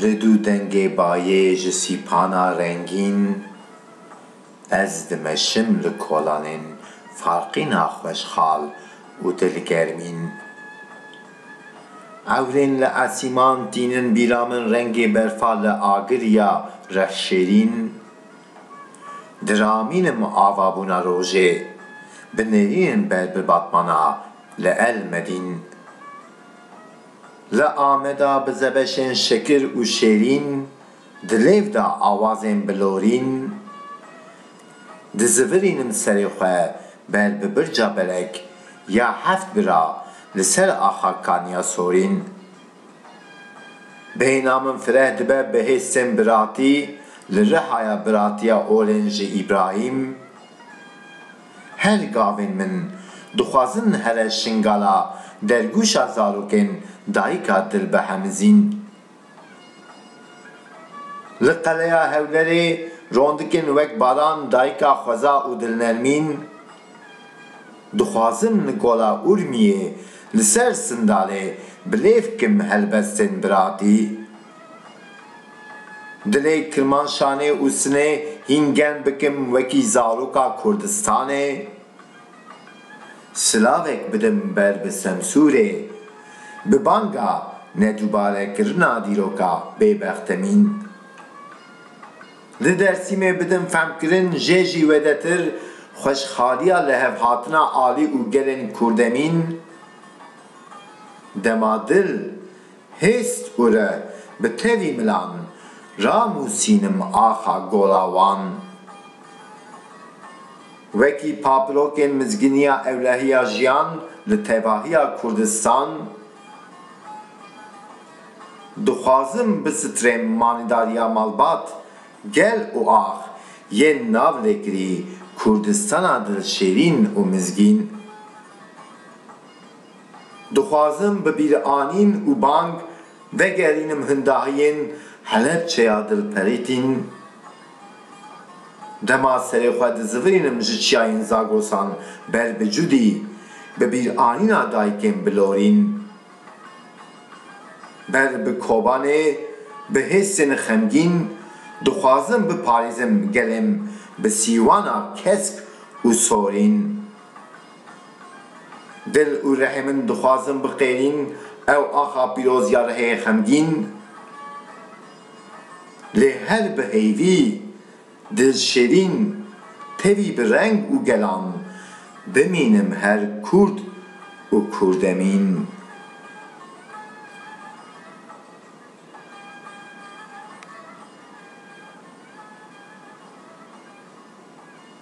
Li du dengê bayê ji sîpana rengîn Ez dimeşim li kolanên farqîna xweşxal û dilgermîn Ewrên li esîman tînin bîra min rengê berfa li agir ya rexşêrîn Diramîne me avabûna rojê, bi nêrînin ber bi Batmana li El Medîn. Li Ameda bi zebeşên şekir û şêrîn, di lêv de awazên bi lorîn, dizivirînim serê xwe ber bi birca belek ya heft bira li ser axa Kaniya Sorîn. Bêhna min fireh dibe bi hê sên biratî li Rihaya Biratiya Olên ji Îbrahîm. Her gavên min dixwazin here şingala dergûşa zarokên dayika dil bihemizîn. Li Qeleya Hewlerê rondikên wek Baran dayika xweza û dilnermîn Dixwazin Nikola Urmiyê li ser Sindalê bi lêv bikin helbestên biratî. Dilê Kirmanşanê û Sinê hîn germ bikim wekî zaroka Kurdistanê. Silavek bidim ber bi Semsûrê. Bi banga nedubarekirina dîroka bêbextemîn. Di Dêrsimê bidin fehmkirin jê jî wêdetir xweşxaliya lihevhatina alî û gelên kurdemîn dema dil, hêst û re bi tevî milan ranûsînim axa gola wan. Wekî papirokên mizginiya ewlehiya jiyan li tevahiya Kurdistan. Dixwazim bisitrêm manîdariya malbat, gel û ax yên nav lêkirî Kurdistana dilşêrîn û mizgîn. Dixwazim bi bîranîn û bang vegerînim hindahiyên Helepçeya dilperîtîn. Dema serê xwe dizivirînim ji çiyayên Zagrosan ber bi Cudî, bi bîranîna dayikêm bilorîn. Ber bi Kobanê bi hêsên xemgîn dixwazim biparêzim gelêm bi sîwana kesk û sorîn. Dil û rehê min dixwazim biqêrîn ew axa pîroz ya rehê xemgîn. Lê her bi heyvî. Dil şêrîn perî bi reng û gelan bimînim her Kurd û Kurdemîn.